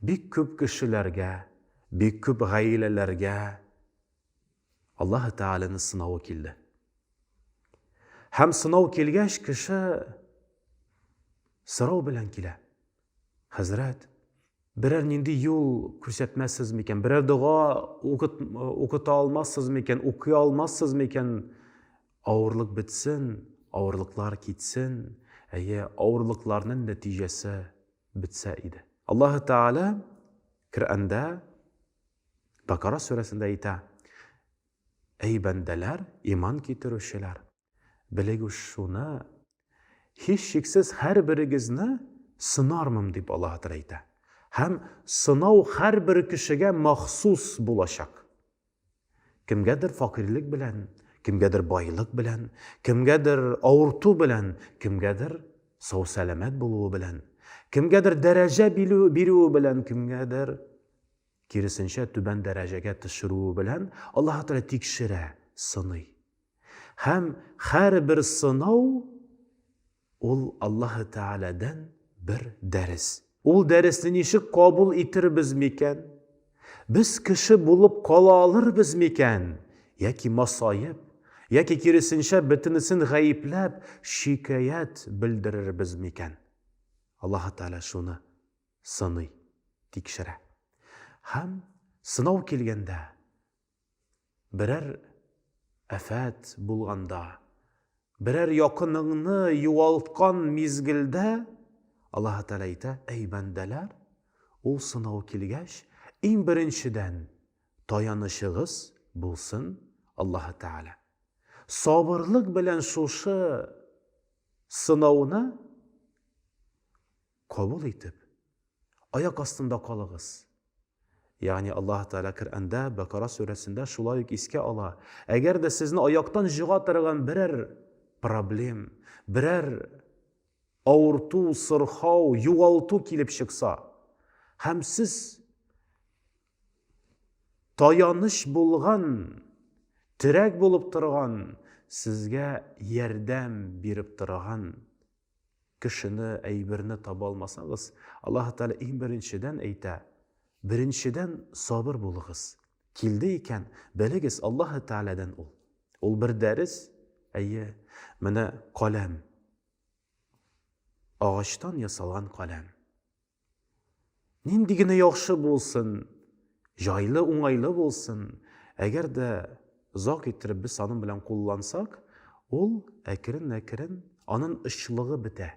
Бик күп кешеләргә, бик күп гаиләләргә Аллаһы Тәгаләнең сынавы килде. Һәм сынау килгәч, кеше сорау белән килә. Хәзрәт, берәр нинди юл күрсәтмәссез микән? Берәр дога укыта алмассыз микән? Укый алмассыз микән? Авырлык бетсен, авырлыклар китсен. Әйе, авырлыкларның нәтиҗәсе бетсә иде. Аллаһы Тәгалә Коръәндә, Бакара сүрәсендә әйтә, Әй бәндәләр, иман китерүчеләр, белегез шуны, һичшиксез һәрберегезне сынармын, дип Аллаһы Тәгалә әйтә. Һәм сынау һәрбер кешегә махсус булачак. Кемгәдер факыйрьлек белән, кемгәдер байлык белән, кемгәдер авырту белән, кемгәдер сау-сәламәт булуы белән, кемгәдер дәрәҗә бирүе белән, кемгәдер киресенчә түбән дәрәҗәгә төшерүе белән Аллаһ Тәгалә тикшерә, сыный. Һәм һәрбер сынау Ул Аллаһы Тәгаләдән бер дәрес. Ул дәресне ничек кабул итербез микән? Без кеше булып кала алырбыз микән? Яки масаеп, яки киресенчә бөтенесен гаепләп, шикаять белдерербез микән? Аллаһы Тәгалә шуны сыный, тикшерә. Һәм сынау килгәндә, Берәр афәт булганда, берәр якыныңны югалткан мизгелдә Аллаһ Тәгалә әйтә, әй бәндәләр, ул сынау килгәч, иң беренчедән таянычыгыз булсын Аллаһ Тәгалә. Сабырлык белән шушы сынауны Кабул итеп, аяк астында калыгыз. Ягъни Аллаһ Тәгалә Коръәндә, Бәкара сүрәсендә шулай ук искә ала, әгәр дә сезне аяктан җыга торган берәр проблем, берәр авырту, сырхау, югалту килеп чыкса, һәм сез таяныч булган, терәк булып торган, сезгә ярдәм биреп торган Кешене, әйберне таба алмасагыз, Аллаһы Тәгалә иң беренчедән әйтә, Беренчедән сабыр булыгыз. Килде икән, белегез, Аллаһы Тәгаләдән ул. Ул бер дәрес, әйе, менә каләм. Агачтан ясалган каләм. Нинди генә яхшы булсын, җайлы, уңайлы булсын, әгәр дә озак иттереп без аның белән куллансак, ул әкрен-әкрен аның очлыгы бетә.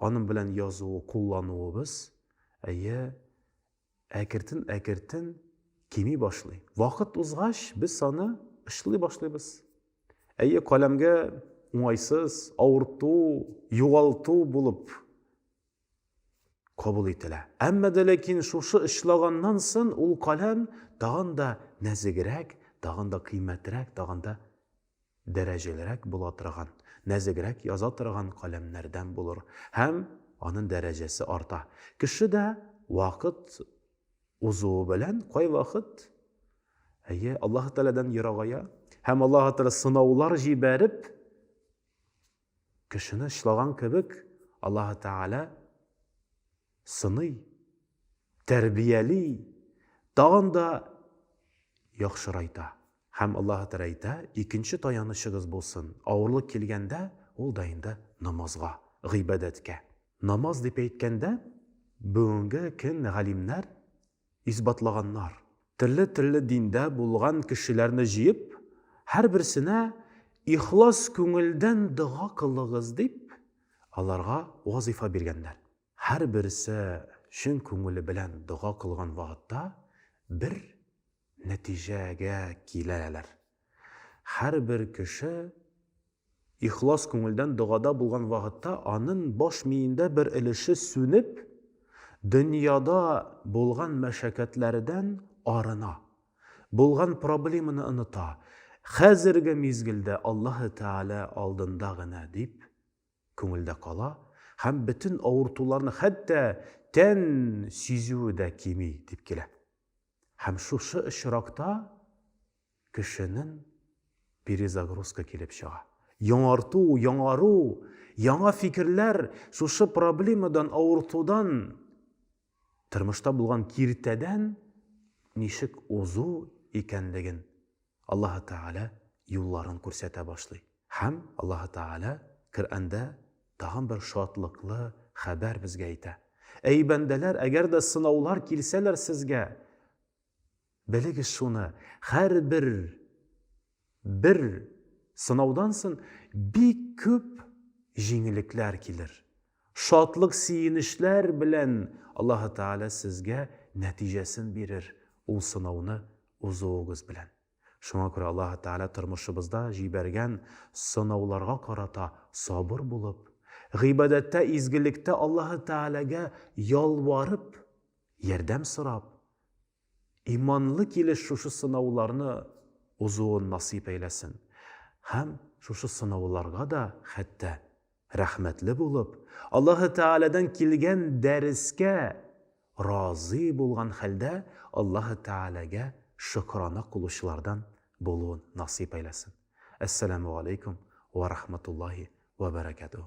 Аның белән язуы, куллануыбыз, әйе, әкертен-әкертен кими башлый. Вакыт узгач, без аны очлый башлыйбыз. Әйе, каләмгә уңайсыз, авырту, югалту булып Кабул ителә. Әмма дә ләкин шушы очлаганнан сон ул каләм тагын да нәзегрәк, тагын да кыйммәтрәк, тагын да дәрәҗәлерәк була торган, нәзегрәк яза торган каләмнәрдән булыр һәм анын дәрәҗәсе арта. Кеше дә вакыт узуы белән кайвакыт, әйе, Аллаһы Тәгаләдән ерагая һәм Аллаһы Тәгалә сынаулар җибәреп, Кешене члаган кебек Аллаһы Тәгалә сыный, тәрбияли, тагын да яхшырайта. Һәм Аллаһы Тәгалә әйтә, икенче таянычыгыз булсын, авырлык килгәндә, ул да инде намазга, гыйбадәткә. Намаз дип әйткәндә, бүгенге көн галимнәр исбатлаганнар. Төрле-төрле диндә булган кешеләрне җыеп, һәрберсенә ихлас күңелдән дога кылыгыз дип, аларга вазыйфа биргәннәр. Һәрберсе чын күңеле белән дога кылган вакытта бер нәтиҗәгә киләләр, һәрбер кеше Ихлас күңелдән догада булган вакытта анын баш миендә бер өлеше сүнеп, дөньяда булган мәшәкатьләрдән арына, булган проблеманы оныта, хәзерге мизгелдә Аллаһы Тәгалә алдында гына дип күңелдә кала һәм бөтен авыртуларны хәтта тән сизүе дә кими дип килә. Һәм шушы очракта Кешенең перезагрузка килеп чыга. Яңарту, яңару, яңа фикерләр шушы проблемадан, авыртудан, тормышта булган киртәдән ничек узу икәнлеген Аллаһы Тәгалә юлларын күрсәтә башлый. Һәм Аллаһы Тәгалә Коръәндә тагын бер шатлыклы хәбәр безгә әйтә. Әй бәндәләр, әгәр дә сынаулар килсәләр сезгә, Белегез шуны, һәрбер бер сынаудан сон бик күп җиңелекләр килер. Шатлык сөенечләр белән Аллаһы Тәгалә сезгә нәтиҗәсен бирер ул сынауны узуыгыз белән. Шуңа күрә Аллаһы Тәгалә тормышыбызда җибәргән сынауларга карата сабыр булып, гыйбадәттә, изгелектә Аллаһы Тәгаләгә ялварып, Ярдәм сорап, иманлы килеш шушы сынауларны узуын насыйп әйләсен һәм шушы сынауларга да хәтта рәхмәтле булып, Аллаһы Тәгаләдән килгән дәрескә разый булган хәлдә Аллаһы Тәгаләгә шөкерана кылучылардан булуын насыйп әйләсен. Әссәламү галәйкүм вә рахматуллаһи вә бәрәкәтүһү.